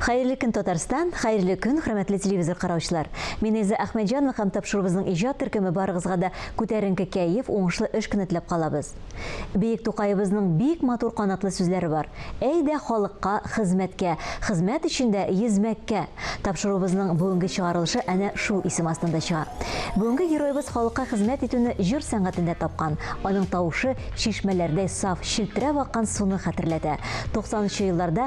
Хәерле көн Татарстан, хәерле көн хөрмәтле телевизор караучылар. Мин Эльза Әхмәтҗанова һәм тапшыруыбызның иҗат төркеме барыгызга да күтәренке кәеф, уңышлы эш көне теләп калабыз. Биек Тукаебызның бик матур канатлы сүзләре бар, Әйдә халыкка хезмәткә, хезмәт өчен дә йөзмәккә! Тапшыруыбызның бүгенге чыгарылышы әнә шул исем астында чыга. Бүгенге героебыз халыкка хезмәт итүне җыр сәнгатендә тапкан, аның тавышы чишмәләрдәй саф, челтерәп аккан суны хәтерләтә. 90 нчы елларда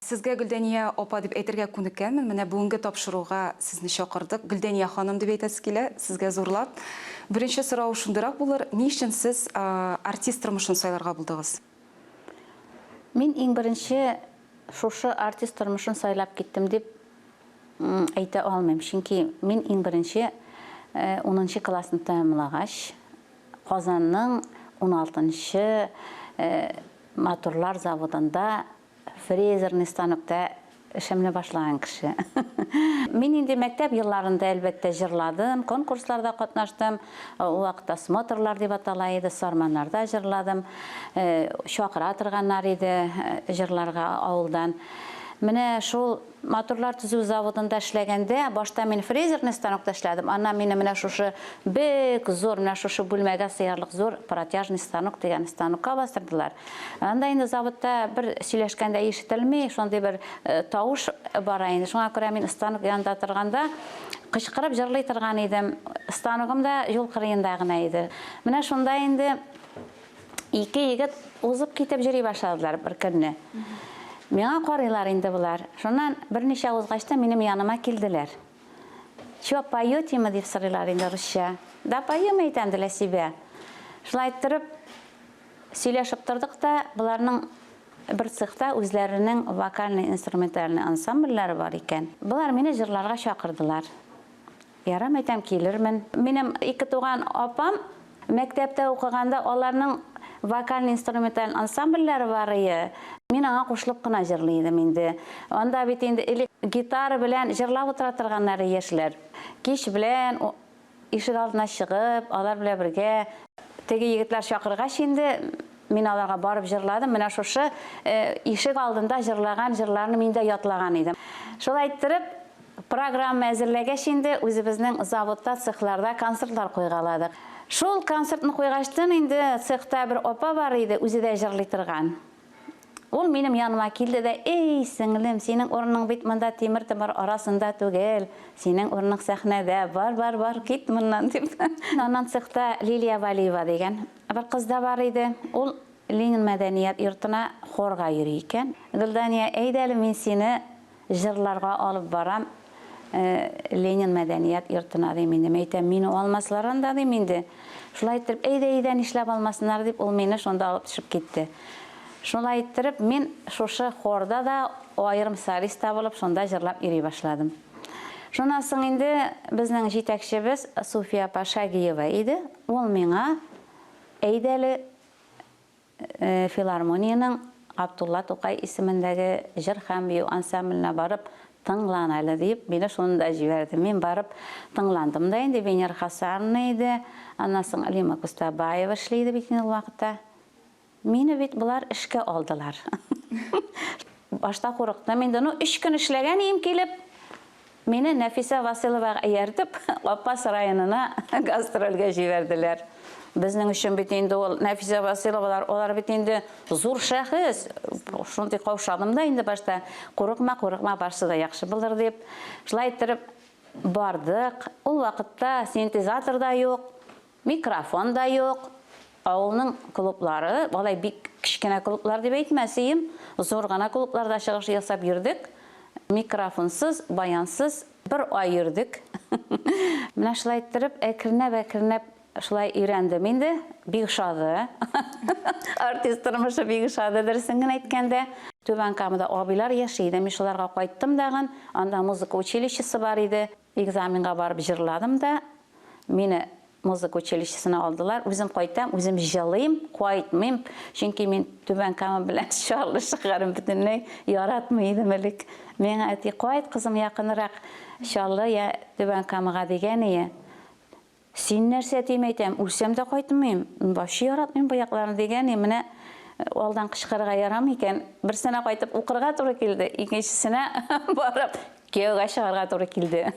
Сезгә Гөлдәния апа дип әйтергә күнеккәнмен, менә бүгенге тапшыруга сезне чакырдык. Гөлдәния ханым дип әйтәсе килә сезгә зурлап. Беренче сорау шундыйрак булыр, ни өчен сез артист тормышын сайларга булдыгыз? Мин иң беренче шушы артист тормышын сайлап киттем дип әйтә алмыйм, чөнки мин иң беренче унынчы классны тәмамлагач, Казанның уналты нчы матурлар заводында Фрезерный станокта эшемне башлаган кеше. Мин инде мәктәп елларында, әлбәттә, җырладым, конкурсларда катнаштым. Ул вакытта смотрлар дип атала иде, Сарманнарда җырладым. Чакыра торганнар иде җырларга авылдан. Менә шул Моторлар төзү заводында эшләгәндә, башта мин фрезерный станокта эшләдем, аннан мине менә шушы бик зур, менә шушы бүлмәгә сыярлык зур протяжный станок дигән станокка бастырдылар. Анда инде заводта бер сөйләшкәндә ишетелми, шундый бер э, тавыш бара инде. Шуңа күрә мин станок янында торганда кычкырып җырлый торган идем. Станогым да юл кырыенда гына иде. Менә шунда инде ике егет узып китеп йөри башладылар бер көнне. Миңа карыйлар инде болар. Шуннан берничә узгач та минем яныма килделәр. Чё, поётимы дип сорыйлар инде русча. Да поем әйтәм, ди Ләсибә. Шулай торып сөйләшеп тордык та, боларның бер цехта үзләренең вокальный-инструментальный ансамбльләре бар икән. Болар мине җырларга чакырдылар. Ярам әйтәм, килермен. Минем ике туган апам мәктәптә укыганда аларның вокаль-инструменталь ансамбльләре бар ие, мин аңа кушылып кына җырлый идем инде. Анда бит инде элек гитара белән җырлап утыра торганнар яшьләр. Кич белән ишек алдына чыгып, алар белән бергә, теге егетләр чакыргач инде, мин аларга барып җырладым, менә шушы ишек алдында җырлаган җырларны мин дә ятлаган идем. Шулай иттереп, Программа әзерләгәч инде үзебезнең заводта, цехларда концертлар куйгаладык. Шул концертны куйгачтын инде цехта бер апа бар иде, үзе дә җырлый торган. Ул минем яныма килде дә, Эй, сеңлем, синең урының бит монда тимер-томар арасында түгел, синең урының сәхнәдә, бар, бар, бар, кит моннан, дип. Аннан цехта Лилия Валиева дигән бер кыз да бар иде. Ул Ленин мәдәният йортына хорга йөри икән. Гөлдания, әйдә әле мин сине Җырларга алып барам Ленин мәдәният йортына, ди, минем әйтәм, мине алмаслар анда, дим, инде. Шулай иттереп, әйдә, әйдә, нишләп алмасыннар, дип, ул мине шунда алып төшеп китте. Шулай иттереп, мин шушы хорда да аерым солист та булып, шунда җырлап йөри башладым. Шуннан соң инде безнең җитәкчебез Суфия апа Шагиева иде, ул миңа, әйдә әле, Филармониянең Габдулла Тукай исемендәге җыр һәм бию ансамбленә барып тыңлан әле, диеп, мине шунда җибәрде. Мин барып тыңландым да инде. Венера Хасановна иде, аннан соң Лима Кустабаева эшли иде бит инде ул вакытта. Мине бит болар эшкә алдылар. Башта курыктым инде. Ну, өч көн эшләгән ием килеп, Мине Нәфисә Василовага ияртеп, Апас районына гастрольгә җибәрделәр. Безнең өчен бит инде ул Нәфисә Василовалар, алар бит инде зур шәхес. Шундый каушадым да инде башта, курыкма, курыкма, барсы да яхшы булыр дип. Шулай иттереп бардык. Ул вакытта синтезатор да юк. Микрофон да юк. Авылның клублары, алай бик кечкенә клублар дип әйтмәсием, зур гына клубларда чыгыш ясап йөрдек. Микрофонсыз, баянсыз бер ай йөрдек. Менә шулай иттереп, әкренләп-әкренләп шулай өйрәндем инде. Бик ошады. Артист тормышы бик ошады, дөресен генә әйткәндә. Түбән Камада абыйлар яши иде. Мин шуларга кайттым дагын. Анда музыка училищесы бар иде. Экзаменга барып җырладым да, мине музыка училищесына алдылар. Үзем кайтам, үзем җылыйм, кайтмыйм, чөнки мин Түбән Кама белән Чаллы шәһәрен бөтенләй яратмый идем элек. Миңа әти, кайт, кызым, якынрак Чаллы я Түбән Камага дигән ие. Син нәрсә дим әйтәм, үлсәм дә кайтмыйм, вообще яратмыйм бу якларны, дигәни, менә алдан кычкырырга ярамый икән. Берсенә кайтып укырга туры килде, икенчесенә барып кияүгә чыгарга туры килде.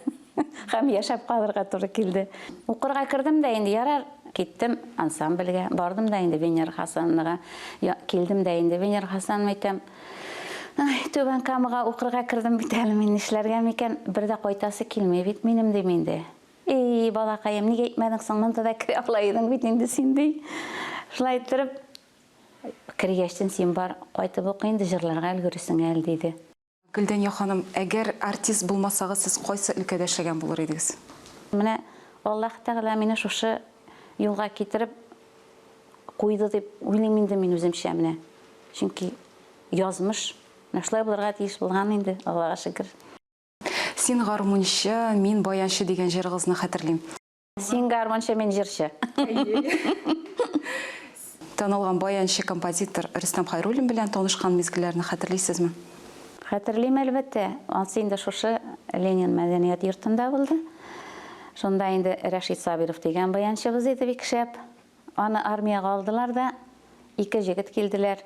Һәм яшәп калырга туры килде. Укырга кердем дә инде, ярар, киттем ансамбльгә, бардым да инде Венера Хасановнага, килдем дә инде Венера Хасановна әйтәм, Ай, Түбән Камага укырга кердем бит әле мин, нишләргә микән, бер дә кайтасы килми бит минем, дим инде. Ий, балакаем, ник әйтмәдең соң, монда да керә ала идең бит инде син, ди. Шулай иттереп, кергәчтен син бар, кайтып ук инде, җырларга өлгерерсең әле, диде. Гөлдәния ханым, әгәр артист булмасагыз, сез кайсы өлкәдә эшләгән булыр идегез? Менә Аллаһ Тәгалә мине шушы юлга китереп куйды дип уйлыйм инде мин үземчә менә. Чөнки язмыш менә шулай булырга тиеш булган инде, Аллага шөкер. Син гармунчы, мин баянчы дигән җырыгызны хәтерлим. Син гармунчы, мин җырчы. Танылган баянчы композитор Рөстәм Хайруллин белән танышкан мизгелләрне хәтерлисезме? Хәтерлим, әлбәттә. Ансы инде шушы Ленин мәдәният йортында булды. Шунда инде Рәшит Сабиров дигән баянчыбыз иде бик шәп. Аны армиягә алдылар да, ике җегет килделәр.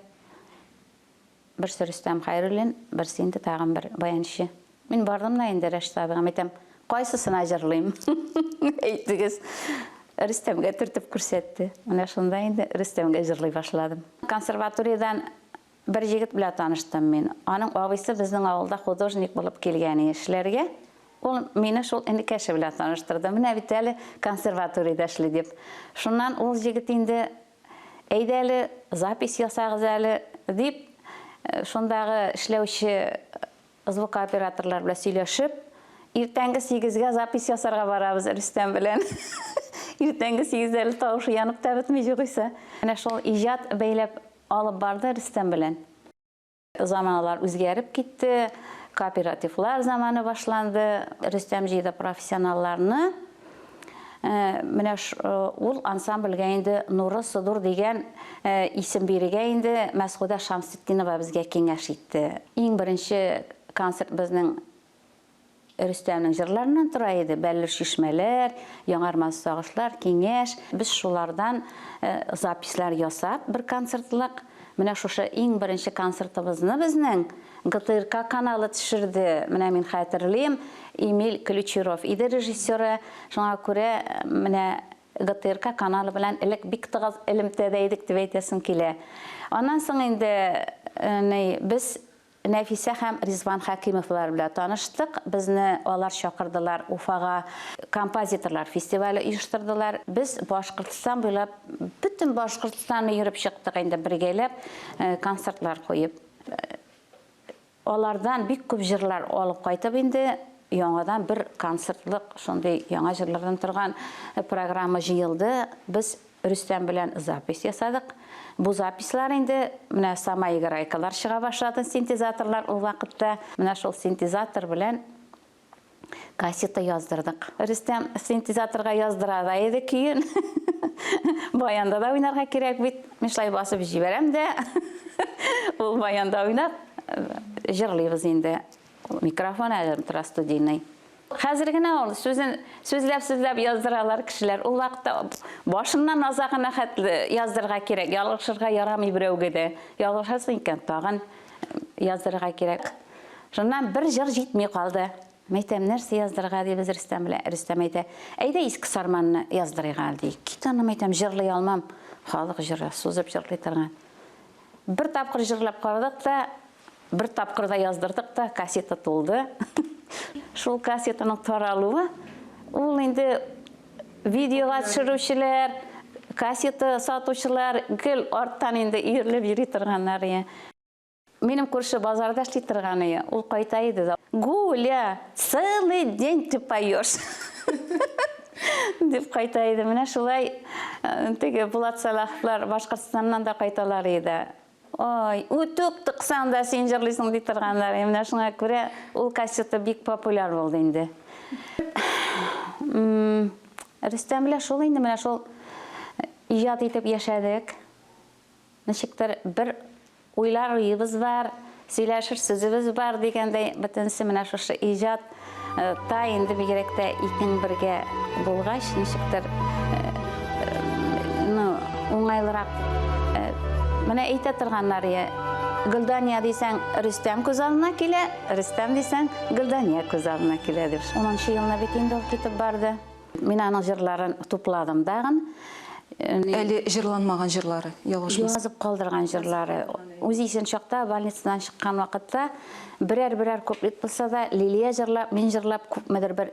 Берсе Рөстәм Хәйруллин, берсе инде тагын бер баянчы. Мин бардым да инде Рәшит абыйга әйтәм, кайсысына җырлыйм? Әйтегез. Рөстәмгә төртеп күрсәтте. Менә шунда инде Рөстәмгә җырлый башладым. Консерваториядән бер егет белән таныштым мин. Аның абыйсы безнең авылда художник булып килгән эшләргә. Ул мине шул энекәше белән таныштырды. Менә бит әле консерваториядә эшли дип. Шуннан ул егет инде Әйдә әле, запись ясагыз әле, дип, шундагы эшләүче звукооператорлар белән сөйләшеп, иртәнге сигезгә запись ясарга барабыз Рөстәм белән. Иртәнге сигездә әле тавышы янып та бетми, югыйсә. Менә шул иҗат бәйләп алып барды Рөстәм белән. Заманалар үзгәреп китте, кооперативлар заманы башланды. Рөстәм җыйды профессионалларны. Э, менә э, ул ансамбльгә инде Нуры Судур дигән э, исем бирергә инде Мәсгудә Шамсетдинова безгә киңәш итте. Иң беренче концерт безнең Рөстәмнең җырларыннан тора иде, Бәллүр чишмәләр, Яңармас сагышлар, Киңәш. Без шулардан записьләр ясап, бер концертлык, менә шушы иң беренче концертыбызны безнең ГТРК каналы төшерде. Менә мин хәтерлим, Эмиль Ключеров иде режиссеры. Шуңа күрә менә ГТРК каналы белән элек бик тыгыз элемтәдә идек дип әйтәсем килә. Аннан соң инде, ни, без Нәфисә һәм Ризван Хәкимовлар белән таныштык. Безне алар чакырдылар, Уфага композиторлар фестивале оештырдылар. Без Башкортстан буйлап, бөтен Башкортстанны йөреп чыктык инде бергәләп, концертлар куеп. Алардан бик күп җырлар алып кайтып инде яңадан бер концертлык шундый яңа җырлардан торган программа җыелды. Без Рөстәм белән запись ясадык. Бу записьлар инде менә самоиграйкалар чыга башлады, синтезаторлар ул вакытта. Менә шул синтезатор белән кассета яздырдык. Рөстәм синтезаторга яздыра да иде көен. Баянда да уйнарга кирәк бит. Мин шулай басып җибәрәм дә, ул баянда уйнап, җырлыйбыз инде. Микрофон әле тора студийный. Хәзер генә ул сүзен сүзләп-сүзләп яздыралар кешеләр. Ул вакытта башыннан азагына хәтле яздырырга кирәк. Ялгышырга ярамый берәүгә дә. Ялгышасың икән, тагын яздырырга кирәк. Шуннан бер җыр җитми калды. Мәйтәм, нәрсә яздырырга дибез Рөстәм белән. Рөстәм әйтә, әйдә Иске Сарманны яздырыйк әле ди. Кит аны, мәйтәм, җырлый алмам. Халык җыры, сузып җырлый торган. Бер тапкыр җырлап карадык та, Бер тапкыр да яздырдык та, кассета тулды. Шул кассетаның таралуы, ул инде видеога төшерүчеләр, кассета сатучылар гел арттан инде өерлеп йөри торганнар. Минем күрше базарда эшли торган ие, ул кайта иде дә. Гуля, целый день ты поешь. Дип кайта иде. Менә шулай э, теге Булат Салаховлар Башкортстаннан да кайталар иде. Ой, үтүк тыксаң да син җырлыйсың ди торганнар. Ә менә шуңа күрә ул кассета бик популяр булды инде. Рөстәм белән шул инде менә шул иҗат итеп яшәдек. Ничектер бер уйлар уебыз бар, сөйләшер сүзебез бар дигәндәй, бөтенесе менә шушы иҗат Э, та инде бигрәк тә икең бергә булгач ничектер э, э, ну уңайлырак менә әйтә торганнар я гөлдания дисәң рөстәм күз алдына килә рөстәм дисәң гөлдания күз алдына килә дип шунынчы елына бит инде ул китеп барды Мин аның җырларын тупладым дагын. Әле җырланмаган җырлары, ялгышмас. Язып калдырган җырлары. Үз исен чакта, больницадан чыккан вакытта, берәр-берәр куплет булса да, Лилия җырлап, мин җырлап, күпмедер бер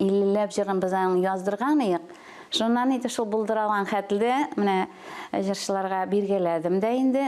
иллеләп җырын без аның яздырган иек. Шуннан иде шул булдыралган хәтле, менә җырчыларга биргәләдем дә инде.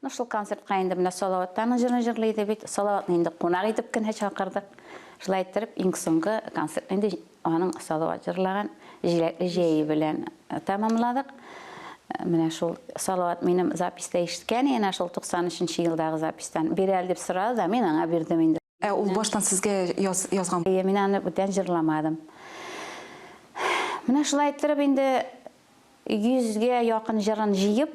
Ну шул концертка инде менә Салаваттаның җырын җырлый иде бит. Салаватны инде кунак итеп кенә чакырдык. Шулай иттереп иң соңгы концерт инде аның Салават җырлаган Җиләкле җәе белән э, тәмамладык. Э, менә шул Салават минем записта ишеткән иде, шул 93 нче елдагы запистан. Бир әле дип сорады да, мин аңа бирдем инде. Ә ул баштан сезгә яз, язган? Әйе, мин аны бүтән җырламадым. Менә шулай иттереп инде 100-гә якын җырын җыеп,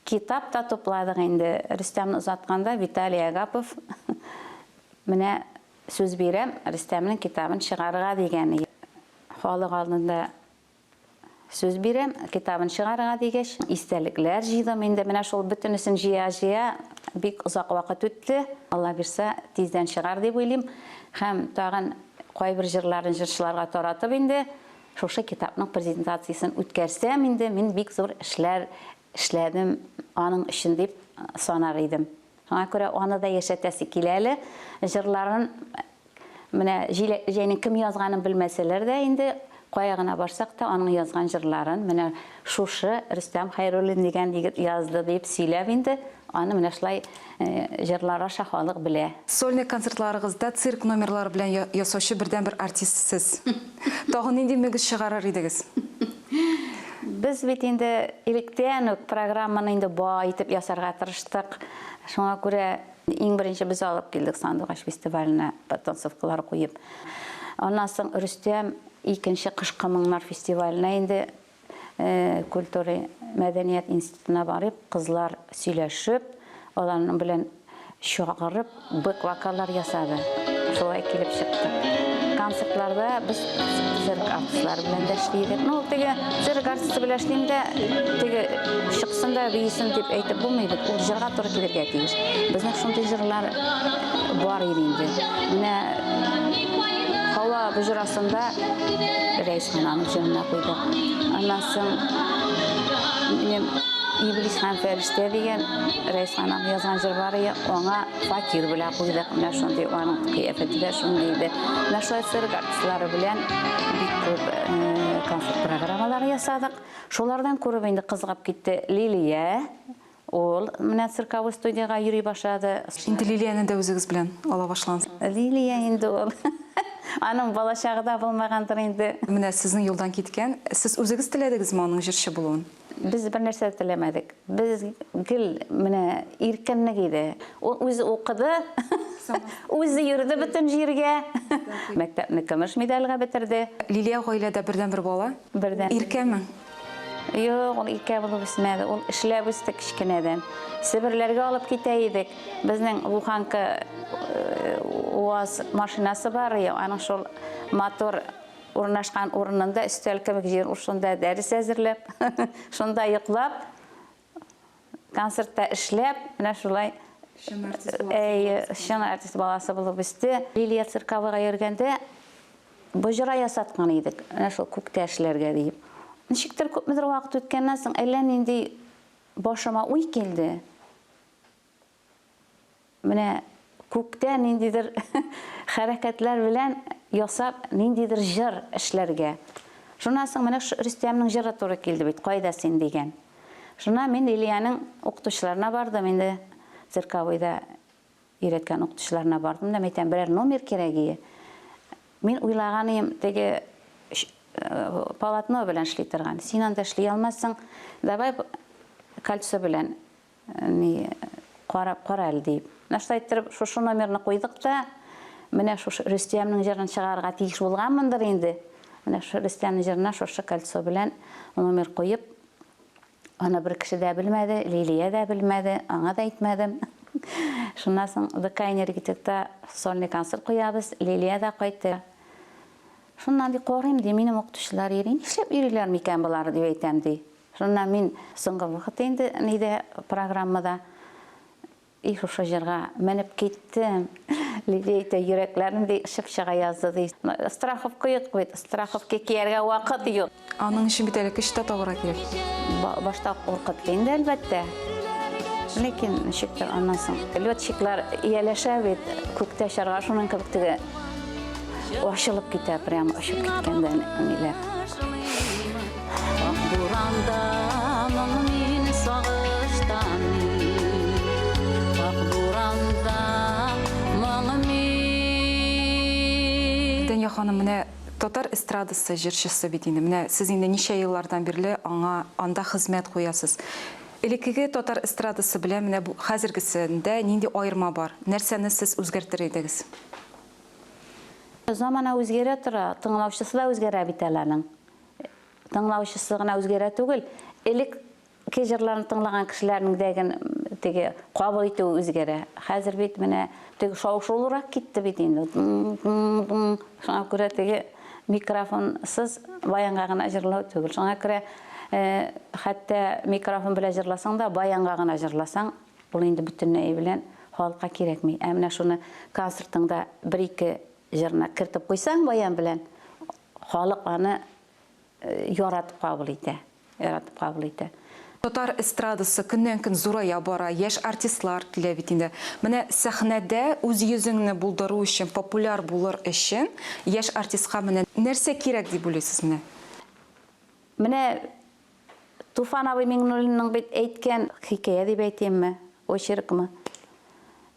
китап та тупладык инде. Рөстәмне озатканда Виталий Агапов менә сүз бирәм, Рөстәмнең китабын чыгарырга дигән. Халык алдында Сүз бирәм, китабын чыгарырга дигәч, истәлекләр җыйдым. Инде менә шул бөтенесен җыя-җыя бик озак вакыт үтте. Алла бирсә, тиздән чыгар дип уйлыйм. Һәм тагын кайбер җырларын җырчыларга таратып инде шушы китапның презентациясен үткәрсәм, инде мин бик зур эшләр эшләдем аның өчен дип санар идем. Шуңа күрә аны да яшәтәсе килә әле. Җырларын менә җәйнең кем язганын белмәсәләр дә инде, кая гына барсак та, аның язган җырларын менә шушы Рөстәм Хәйруллин дигән егет язды дип сөйләп инде, аны менә шулай җырлар аша халык белә. Сольный концертларыгызда цирк номерлары белән ясаучы бердәнбер артист сез. Тагын нинди мөгез чыгарыр идегез? Без бит инде электән үк программаны инде бай итеп ясарга тырыштык. Шуңа күрә иң беренче без алып килдек Сандугач фестиваленә подтанцовкалар куеп. Аннан соң Рөстәм икенче кышкы моңнар фестиваленә инде э, культура мәдәният институтына барып, кызлар сөйләшеп, аларның белән Чакырып бэк-вокаллар ясады. Шулай килеп чыкты. Концертларда без цирк артистлары белән дә эшли идек. Ну, теге цирк артисты белән эшлим дә, теге чыксын да биисен дип әйтеп булмый бит. Ул җырга туры килергә тиеш. Безнең шундый җырлар бар иде инде. Менә Һава боҗрасында Рәис хананың җырына куйдык. Аннан соң Иблис һәм Истә дигән Рәйсаның язган җыр бар иде, аңа фатир белән куйдык. Менә шундый аның кыяфәте дә шундый иде. Менә шулай цирк артистлары белән бик күп концерт программалары ясадык. Шулардан күреп инде кызыгып китте Лилия. Ул менә цирковой студиягә йөри башлады. Инде Лилияне дә үзегез белән ала башлансыз. Лилия инде ул. Аның балачагы да булмагандыр инде. Менә сезнең юлдан киткән. Сез үзегез теләдегезме аның җырчы булуын? Без бернәрсә дә теләмәдек. Без гел менә иркенлек иде. Ул үзе укыды, үзе йөрде бөтен җиргә. Мәктәпне көмеш медальгә бетерде. Лилия гаиләдә бердәнбер бала. Бердән. Иркәме? Юк, ул иркә булып үсмәде. Ул эшләп үсте кечкенәдән. Себерләргә алып китә идек. Безнең буханка УАЗ машинасы бар, аның шул мотор Урнашкан урынында өстәл кебек җир, шунда дәрес әзерләп, шунда йоклап, концертта эшләп, менә шулай чын артист баласы булып үсте. Лилия Цирковыйга йөргәндә боҗра ясаткан идек, менә шул күктә эшләргә диеп. Ничектер күпмедер вакыт үткәннән соң әллә нинди башыма уй килде. Менә күктә ниндидер хәрәкәтләр белән ясап, ниндидер җыр эшләргә. Шуннан соң менә Рөстәмнең җыры туры килде бит, Кайда син дигән. Шуннан мин Ильяның укытучыларына бардым, инде цирковойда өйрәткән укытучыларына бардым да, мин әйтәм, берәр номер кирәк ие. Мин уйлаганым теге полотно белән эшли торган. Син анда эшли алмассың, давай кольцо белән Ни, карап кара әле, диеп. Менә шулай иттереп, шушы номерны куйдык та, менә шушы Рөстәмнең җырын чыгарырга тиеш булганмындыр инде. Менә шушы Рөстәмнең җырына шушы кольцо белән номер куеп, аны бер кеше дә белмәде, Лилия дә белмәде, аңа да әйтмәдем. Шуннан соң ДК энергетикта сольный концерт куябыз, Лилия дә кайтты. Шуннан ди, карыйм, ди, минем укытучылар йөри, нишләп йөриләр микән болар, дип әйтәм, ди. Шуннан мин соңгы вакыт инде нидә, программада, и шушы җырга менеп киттем. Лилия әйтә, йөрәкләрем ди очып чыга язды ди. Страховка юк бит, страховка кияргә вакыт юк. Аның өчен бит әле көч тә табарга кирәк. Башта куркытты инде, әлбәттә. Ләкин ничектер аннан соң летчиклар ияләшә бит, күктә очарга, шуның кебек теге. Ашылып китә, прям ашып киткәндә ниләр. Ак буранда мин сагыштан. Ак буранда моң мин. Дәния ханым, менә татар эстрадасы җырчысы бит инде. Менә сез инде ничә еллардан бирле аңа анда хезмәт куясыз. Элеккеге татар эстрадасы белән менә бу хәзергесендә нинди аерма бар? Нәрсәне сез үзгәртер идегез? Замана үзгәрә тора, тыңлаучысы да үзгәрә бит әле аның. Тыңлаучысы гына үзгәрә түгел, элек ке җырларны тыңлаган кешеләрнең дә теге кабул итүе үзгәрә. Хәзер бит менә Теге шау-шулырак китте бит инде. Шуңа күрә теге микрофонсыз баянга гына җырлау түгел. Шуңа күрә э, хәтта микрофон белән җырласаң да, баянга гына җырласаң, ул инде бөтенләй белән халыкка кирәкми. Ә менә шуны концертыңда бер-ике җырны кертеп куйсаң баян белән, халык аны яратып кабул итә, яратып кабул итә. Татар эстрадасы көннән-көн зурая бара, яшь артистлар килә бит инде. Менә сәхнәдә үз йөзеңне булдыру өчен, популяр булыр өчен яшь артистка менә нәрсә кирәк дип уйлыйсыз менә? Менә Туфан абый Миңнуллинның бит әйткән хикәя дип әйтимме, очеркмы?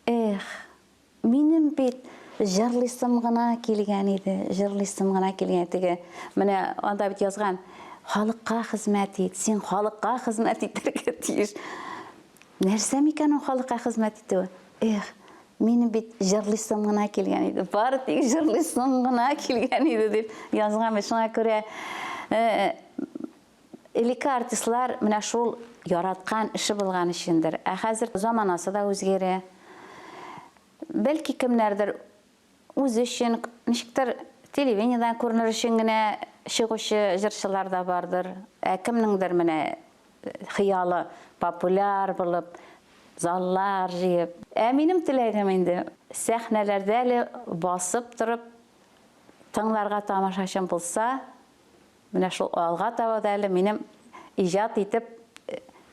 Эх, Минем бит җырлыйсым гына килгән иде, җырлыйсым гына килгән теге. Менә анда бит язган, халыкка хезмәт ит, син халыкка хезмәт итәргә тиеш. Нәрсә микән ул халыкка хезмәт итү? Эх, минем бит җырлыйсым гына килгән иде. Бары тик җырлыйсым гына килгән иде дип язган бит. Шуңа күрә э, Элекке артистлар менә шул яраткан эше булган өчендер. Ә хәзер заманасы да үзгәрә. Бәлки кемнәрдер үзе өчен, ничектер телевидениедән күренер өчен генә чыгучы җырчылар да бардыр. Ә кемнеңдер менә хыялы популяр булып, заллар җыеп. Ә минем теләгем инде сәхнәләрдә әле басып торып тыңларга тамашачым булса, Менә шул алга таба да әле минем иҗат итеп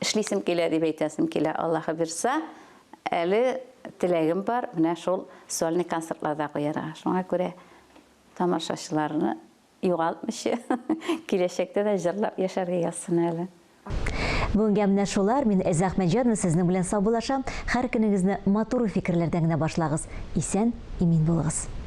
эшлисем килә дип әйтәсем килә. Аллаһы бирса, әле теләгем бар, менә шул сольный концертларда куярга. Шуңа күрә тамашачыларны югалтмыйча, киләчәктә дә җырлап яшәргә язсын әле. Бүгенгә менә шулар, мин Эльза Әхмәтҗанова сезнең белән саубуллашам, хәр көнегезне матур фикерләрдән генә башлагыз, исән, имин булыгыз.